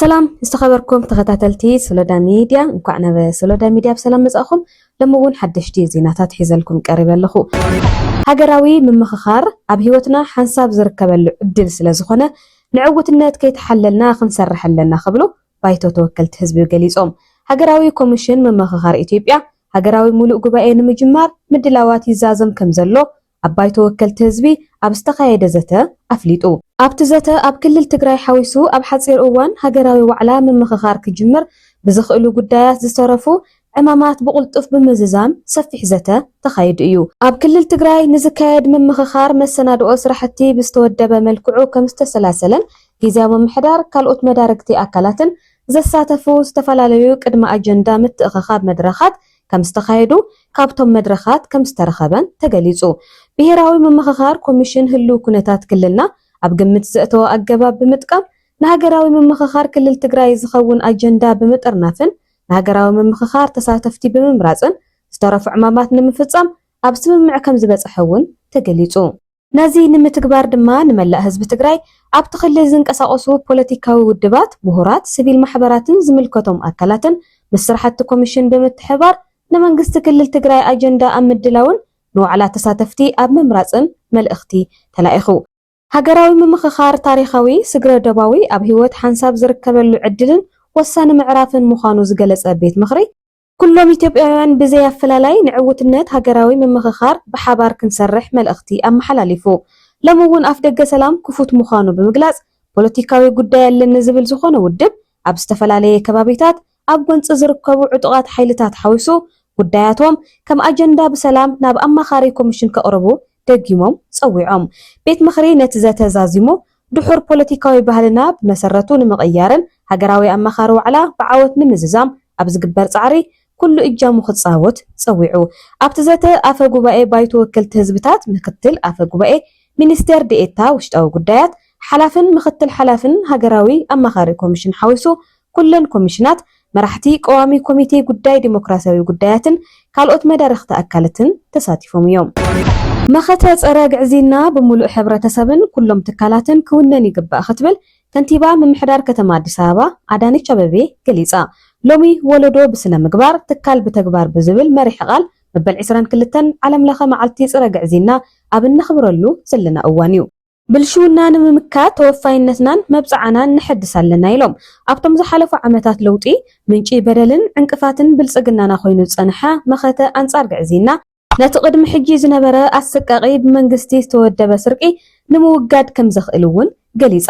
ሰላም ዝተኸበርኩም ተኸታተልቲ ሶሎዳ ሚድያ እንኳዕ ናብ ሶሎዳ ሚድያ ብሰላም መፃእኹም። ሎሚ እውን ሓደሽቲ ዜናታት ሒዘልኩም ቀሪበ ኣለኹ። ሃገራዊ ምምኽኻር ኣብ ህይወትና ሓንሳብ ዝርከበሉ ዕድል ስለዝኾነ ንዕውትነት ከይተሓለልና ክንሰርሕ ኣለና ክብሉ ባይቶ ተወከልቲ ህዝቢ ገሊፆም። ሃገራዊ ኮሚሽን ምምኽኻር ኢትዮጵያ ሃገራዊ ሙሉእ ጉባኤ ንምጅማር ምድላዋት ይዛዘም ከምዘሎ ኣብ ባይቶ ወከልቲ ህዝቢ ኣብ ዝተኻየደ ዘተ ኣፍሊጡ። ኣብቲ ዘተ ኣብ ክልል ትግራይ ሓዊሱ ኣብ ሓፂር እዋን ሃገራዊ ዋዕላ ምምኽኻር ክጅምር ብዝኽእሉ ጉዳያት ዝተረፉ ዕማማት ብቕልጡፍ ብምዝዛም ሰፊሕ ዘተ ተኻይዱ እዩ። ኣብ ክልል ትግራይ ንዝካየድ ምምኽኻር መሰናድኦ ስራሕቲ ብዝተወደበ መልክዑ ከምዝተሰላሰለን ጊዚያዊ ምምሕዳር ካልኦት መዳርግቲ ኣካላትን ዘሳተፉ ዝተፈላለዩ ቅድመ ኣጀንዳ ምትእኽኻብ መድረኻት ከምዝተኻየዱ ካብቶም መድረኻት ከምዝተረኸበን ተገሊፁ። ብሄራዊ ምምኽኻር ኮሚሽን ህልው ኩነታት ክልልና ኣብ ግምት ዘእተወ ኣገባብ ብምጥቃም ንሃገራዊ ምምኽኻር ክልል ትግራይ ዝኸውን ኣጀንዳ ብምጥርናፍን ንሃገራዊ ምምኽኻር ተሳተፍቲ ብምምራፅን ዝተረፉ ዕማማት ንምፍፃም ኣብ ስምምዕ ከምዝበፀሐ እውን ተገሊፁ። ነዚ ንምትግባር ድማ ንመላእ ህዝቢ ትግራይ፣ ኣብቲ ክልል ዝንቀሳቐሱ ፖለቲካዊ ውድባት፣ ምሁራት፣ ስቪል ማሕበራትን ዝምልከቶም ኣካላትን ምስ ስራሕቲ ኮሚሽን ብምትሕብባር ንመንግስቲ ክልል ትግራይ ኣጀንዳ ኣብ ምድላውን ንዋዕላ ተሳተፍቲ ኣብ ምምራፅን መልእኽቲ ተላኢኹ። ሃገራዊ ምምኽኻር ታሪኻዊ፣ ስግረ-ዶባዊ፣ ኣብ ህይወት ሓንሳብ ዝርከበሉ ዕድልን ወሳኒ ምዕራፍን ምዃኑ ዝገለጸ ቤት ምኽሪ፣ ኩሎም ኢትዮጵያውያን ብዘይ ኣፈላላይ ንዕውትነት ሃገራዊ ምምኽኻር ብሓባር ክንሰርሕ መልእኽቲ ኣመሓላሊፉ። ሎሚ እውን ኣፍደገ ሰላም ክፉት ምዃኑ ብምግላጽ፣ ፖለቲካዊ ጉዳይ ኣለኒ ዝብል ዝኾነ ውድብ፣ ኣብ ዝተፈላለየ ከባቢታት ኣብ ጎንፂ ዝርከቡ ዕጡቓት ሓይልታት ሓዊሱ ጉዳያቶም ከም ኣጀንዳ ብሰላም ናብ ኣማኻሪ ኮሚሽን ከቕርቡ ደጊሞም ፀዊዖም። ቤት ምኽሪ ነቲ ዘተ ዛዚሙ ድሑር ፖለቲካዊ ባህልና ብመሰረቱ ንምቕያርን ሃገራዊ ኣማኻሪ ዋዕላ ብዓወት ንምዝዛም ኣብ ዝግበር ፃዕሪ ኩሉ እጃሙ ክፃወት ፀዊዑ። ኣብቲ ዘተ ኣፈ ጉባኤ ባይቶ ወከልቲ ህዝብታት፣ ምክትል ኣፈ ጉባኤ፣ ሚኒስቴር ዲኤታ ውሽጣዊ ጉዳያት፣ ሓላፍን ምክትል ሓላፍን ሃገራዊ ኣማኻሪ ኮሚሽን ሓዊሱ ኩለን ኮሚሽናት፣ መራሕቲ ቀዋሚ ኮሚቴ ጉዳይ ዴሞክራሲያዊ ጉዳያትን ካልኦት መዳርኽቲ ኣካልትን ተሳቲፎም እዮም። መኸተ ፀረ ግዕዝይና ብሙሉእ ሕብረተሰብን ኩሎም ትካላትን ክውነን ይግባእ ክትብል ከንቲባ ምምሕዳር ከተማ ኣዲስ ኣበባ ኣዳነች ኣበቤ ገሊፃ። ሎሚ ወለዶ ብስነ ምግባር፣ ትካል ብተግባር ብዝብል መሪሕ ቓል መበል ዕስራን ክልተን ዓለም ለኸ መዓልቲ ፅረ ግዕዝይና ኣብ እነኽብረሉ ዘለና እዋን ዩ። ብልሽውና ንምምካት ተወፋይነትናን መብፅዓናን ነሐድስ ኣለና ኢሎም። ኣብቶም ዝሓለፉ ዓመታት ለውጢ ምንጪ በደልን ዕንቅፋትን ብልፅግናና ኮይኑ ዝፀንሐ መኸተ ኣንፃር ግዕዝይና፣ ነቲ ቅድሚ ሕጂ ዝነበረ ኣሰቃቒ ብመንግስቲ ዝተወደበ ስርቂ ንምውጋድ ከም ዘኽእል'ውን ገሊጻ።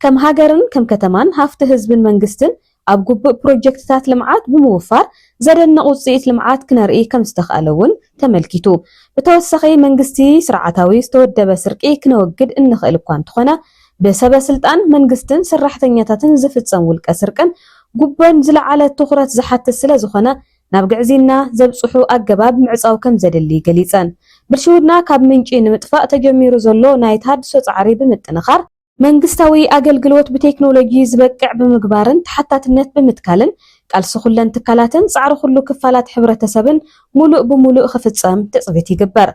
ከም ሃገርን ከም ከተማን ሃፍቲ ህዝብን መንግስትን ኣብ ግቡእ ፕሮጀክትታት ልምዓት ብምውፋር ዘደንቕ ውጽኢት ልምዓት ክነርኢ ከም ዝተኽኣለ'ውን ተመልኪቱ። ብተወሳኺ መንግስቲ ስርዓታዊ ዝተወደበ ስርቂ ክነወግድ እንኽእል እኳ እንተኾነ ብሰበስልጣን መንግስትን ሰራሕተኛታትን ዝፍጸም ውልቀ ስርቅን ጉቦን ዝለዓለ ትኹረት ዝሓትት ስለ ዝኾነ ናብ ግዕዝይና ዘብጽሑ ኣገባብ ምዕጻው ከም ዘድሊ ገሊጸን። ብልሽውና ካብ ምንጪ ንምጥፋእ ተጀሚሩ ዘሎ ናይ ተሃድሶ ጻዕሪ ብምጥንኻር፣ መንግስታዊ ኣገልግሎት ብቴክኖሎጂ ዝበቅዕ ብምግባርን ተሓታትነት ብምትካልን ቃልሲ ኩለን ትካላትን ጻዕሪ ኩሉ ክፋላት ሕብረተሰብን ሙሉእ ብሙሉእ ክፍጸም ትጽቢት ይግበር።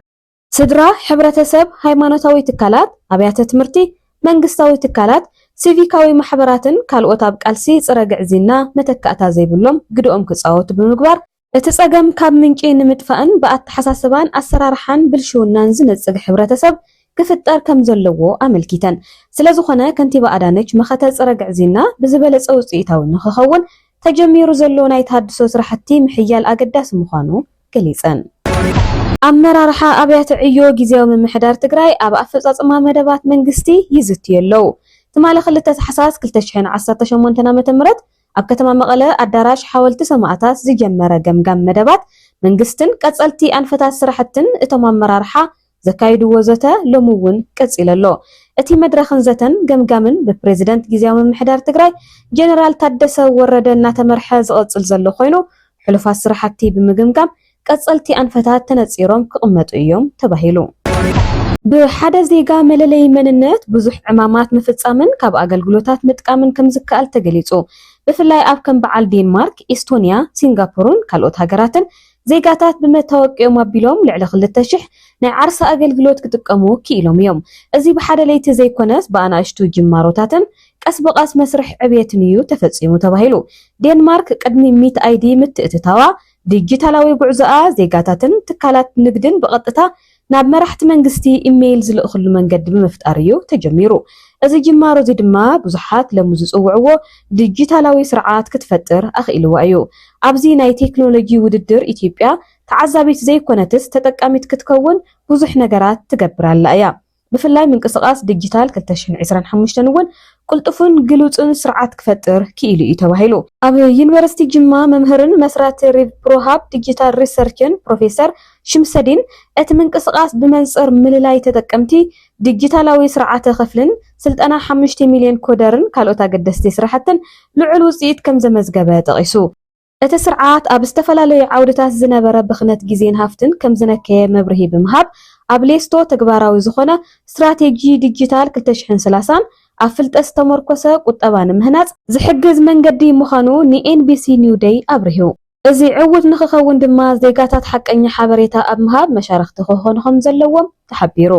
ስድራ፣ ሕብረተሰብ፣ ሃይማኖታዊ ትካላት፣ ኣብያተ ትምህርቲ፣ መንግስታዊ ትካላት፣ ሲቪካዊ ማሕበራትን ካልኦት ኣብ ቃልሲ ፅረ ግዕዝይና መተካእታ ዘይብሎም ግደኦም ክፃወቱ ብምግባር እቲ ፀገም ካብ ምንጪ ንምጥፋእን ብኣተሓሳስባን ኣሰራርሓን ብልሽውናን ዝነፅግ ሕብረተሰብ ክፍጠር ከምዘለዎ ኣመልኪተን። ስለዝኾነ ከንቲባ ኣዳነች መኸተ ፅረ ግዕዝይና ብዝበለፀ ውፅኢታዊ ንክኸውን ተጀሚሩ ዘሎ ናይ ተሃድሶ ስራሕቲ ምሕያል ኣገዳሲ ምዃኑ ገሊፀን። ኣመራርሓ ኣብያተ ዕዮ ጊዚያዊ ምምሕዳር ትግራይ ኣብ ኣፈፃፅማ መደባት መንግስቲ ይዝትዩ ኣለው። ትማሊ ክልተ ታሕሳስ ክልተ ሽሕን ዓሰርተ ሸሞንተን ዓ ም ኣብ ከተማ መቐለ ኣዳራሽ ሓወልቲ ሰማእታት ዝጀመረ ገምጋም መደባት መንግስትን ቀፀልቲ ኣንፈታት ስራሕትን እቶም ኣመራርሓ ዘካይድዎ ዘተ ሎሚ እውን ቀፂሉ ኣሎ። እቲ መድረኽን ዘተን ገምጋምን ብፕሬዚደንት ጊዚያዊ ምምሕዳር ትግራይ ጀነራል ታደሰ ወረደ እናተመርሐ ዝቐፅል ዘሎ ኮይኑ ሕሉፋት ስራሕቲ ብምግምጋም ቀፀልቲ ኣንፈታት ተነፂሮም ክቕመጡ እዮም ተባሂሉ። ብሓደ ዜጋ መለለዪ መንነት ብዙሕ ዕማማት ምፍፃምን ካብ ኣገልግሎታት ምጥቃምን ከምዝከኣል ተገሊፁ። ብፍላይ ኣብ ከም በዓል ዴንማርክ፣ ኢስቶኒያ፣ ሲንጋፖርን ካልኦት ሃገራትን ዜጋታት ብመታወቂኦም ኣቢሎም ልዕሊ ክልተ ሽሕ ናይ ዓርሰ ኣገልግሎት ክጥቀሙ ክኢሎም እዮም። እዚ ብሓደ ለይቲ ዘይኮነስ ብኣናእሽቱ ጅማሮታትን ቀስ ብቐስ መስርሕ ዕብየትን እዩ ተፈጺሙ ተባሂሉ። ዴንማርክ ቅድሚ ሚት ኣይዲ ምትእትታዋ፣ ዲጂታላዊ ጉዕዞኣ ዜጋታትን ትካላት ንግድን ብቐጥታ ናብ መራሕቲ መንግስቲ ኢመይል ዝልእኽሉ መንገዲ ብምፍጣር እዩ ተጀሚሩ። እዚ ጅማሮ እዚ ድማ ብዙሓት ለሙ ዝጽውዕዎ ድጂታላዊ ስርዓት ክትፈጥር ኣኽኢልዋ እዩ። ኣብዚ ናይ ቴክኖሎጂ ውድድር ኢትዮጵያ ተዓዛቢት ዘይኮነትስ ተጠቃሚት ክትከውን ብዙሕ ነገራት ትገብር ኣላ እያ። ብፍላይ ምንቅስቓስ ድጂታል ክልተ ሽሕን ዕስራን ሓሙሽተን እውን ቅልጡፍን ግሉጽን ስርዓት ክፈጥር ክኢሉ እዩ ተባሂሉ። ኣብ ዩኒቨርሲቲ ጅማ መምህርን መስራቲ ሪቭፕሮሃብ ድጂታል ሪሰርችን ፕሮፌሰር ሽምሰዲን፣ እቲ ምንቅስቓስ ብመንጽር ምልላይ ተጠቀምቲ፣ ዲጂታላዊ ስርዓተ ክፍሊን ስልጠና ሓሙሽተ ሚልዮን ኮደርን ካልኦት ኣገደስቲ ስራሕትን ልዑል ውጽኢት ከም ዘመዝገበ ጠቒሱ። እቲ ስርዓት ኣብ ዝተፈላለዩ ዓውድታት ዝነበረ ብኽነት ግዜን ሃፍትን ከም ዝነከየ መብርሂ ብምሃብ፣ ኣብ ሌስቶ ተግባራዊ ዝዀነ ስትራቴጂ ዲጂታል ክልተ ሽሕን ሰላሳን ኣብ ፍልጠት ዝተሞርኰሰ ቍጠባ ንምህናጽ ዝሕግዝ መንገዲ ምዃኑ ንኤንቢሲ ኒው ደይ ኣብሪሁ። እዚ ዕዉት ንክኸውን ድማ ዜጋታት ሓቀኛ ሓበሬታ ኣብ ምሃብ መሻርኽቲ ክኾኑ ከምዘለዎም ተሓቢሩ።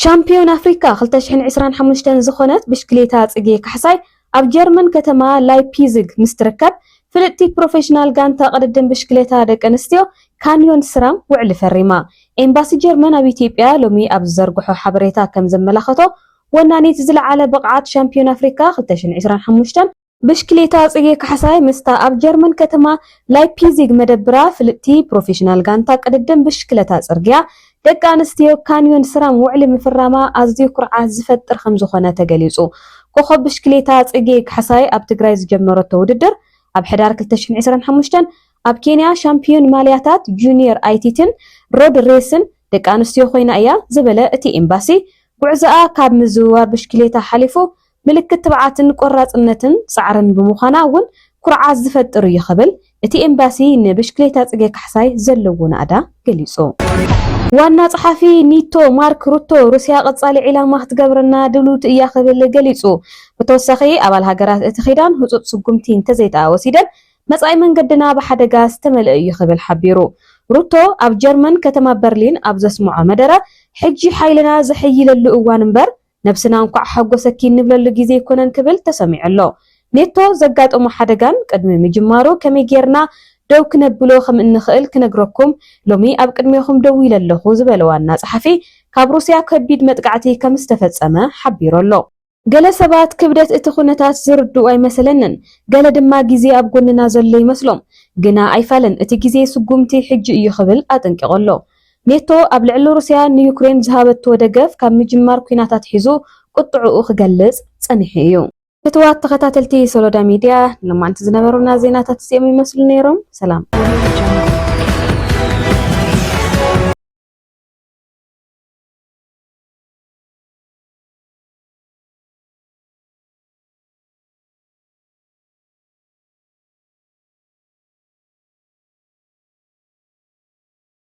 ሻምፕዮን ኣፍሪካ ክልተ ሽሕን ዕስራን ሓሙሽተን ዝኾነት ብሽክሌታ ፅጌ ካሕሳይ ኣብ ጀርመን ከተማ ላይፒዝግ ምስ ትርከብ ፍልጥቲ ፕሮፌሽናል ጋንታ ቅድድም ብሽክሌታ ደቂ ኣንስትዮ ካንዮን ስራም ውዕሊ ፈሪማ። ኤምባሲ ጀርመን ኣብ ኢትዮጵያ ሎሚ ኣብ ዝዘርግሖ ሓበሬታ ከምዘመላኸቶ ወናኒት ዝለዓለ ብቕዓት ሻምፕዮን ኣፍሪካ ክልተ ሽሕን ዕስራን ሓሙሽተን ብሽክሌታ ጽጌ ካሕሳይ ምስታ ኣብ ጀርመን ከተማ ላይፒዚግ መደብራ ፍልጥቲ ፕሮፌሽናል ጋንታ ቅድድም ብሽክለታ ጽርግያ ደቂ ኣንስትዮ ካንዮን ስራም ውዕሊ ምፍራማ ኣዝዩ ኩርዓት ዝፈጥር ከምዝኾነ ተገሊጹ። ኮኾብ ብሽክሌታ ጽጌ ካሕሳይ ኣብ ትግራይ ዝጀመረቶ ውድድር ኣብ ሕዳር ክልተ ሽሕን ዕስራን ሓሙሽተን ኣብ ኬንያ ሻምፕዮን ማልያታት ጁንየር ኣይቲቲን ሮድ ሬስን ደቂ ኣንስትዮ ኮይና እያ ዝበለ እቲ ኤምባሲ፣ ጉዕዞኣ ካብ ምዝውዋር ብሽክሌታ ሓሊፉ ምልክት ትብዓትን ቆራፅነትን ፃዕርን ብምዃና እውን ኩርዓት ዝፈጥር እዩ ክብል እቲ ኤምባሲ ንብሽክሌታ ፅጌ ካሕሳይ ዘለዎ ናእዳ ገሊፁ። ዋና ፀሓፊ ኒቶ ማርክ ሩቶ ሩስያ ቐፃሊ ዒላማ ክትገብረና ድልውቲ እያ ክብል ገሊፁ። ብተወሳኺ ኣባል ሃገራት እቲ ኪዳን ህፁፅ ስጉምቲ እንተዘይድኣ ወሲደን መፃኢ መንገድና ብሓደጋ ዝተመልአ እዩ ክብል ሓቢሩ። ሩቶ ኣብ ጀርመን ከተማ በርሊን ኣብ ዘስምዖ መደረ ሕጂ ሓይልና ዘሐይለሉ እዋን እምበር ነብስና እንኳዕ ሓጎሰኪ እንብለሉ ግዜ ኣይኮነን ክብል ተሰሚዑ ኣሎ። ኔቶ ዘጋጠሞ ሓደጋን ቅድሚ ምጅማሩ ከመይ ጌርና ደው ክነብሎ ከምእንኽእል ክነግረኩም ሎሚ ኣብ ቅድሜኹም ደው ኢለ ኣለኹ ዝበለ ዋና ጸሓፊ ካብ ሩስያ ከቢድ መጥቃዕቲ ከምዝተፈጸመ ሓቢሩ ኣሎ። ገለ ሰባት ክብደት እቲ ኩነታት ዝርድኡ ኣይመሰለንን፣ ገለ ድማ ግዜ ኣብ ጎንና ዘሎ ይመስሎም። ግና ኣይፋልን እቲ ግዜ ስጉምቲ ሕጂ እዩ ክብል ኣጠንቂቑ ኣሎ። ኔቶ ኣብ ልዕሊ ሩስያ ንዩክሬን ዝሃበቶ ደገፍ ካብ ምጅማር ኲናት ኣትሒዙ ቁጥዕኡ ክገልጽ ጸኒሑ እዩ። ፍትዋት ተኸታተልቲ ሶሎዳ ሚድያ ንሎማንቲ ዝነበሩና ዜናታት እዚኦም ይመስሉ ነይሮም። ሰላም።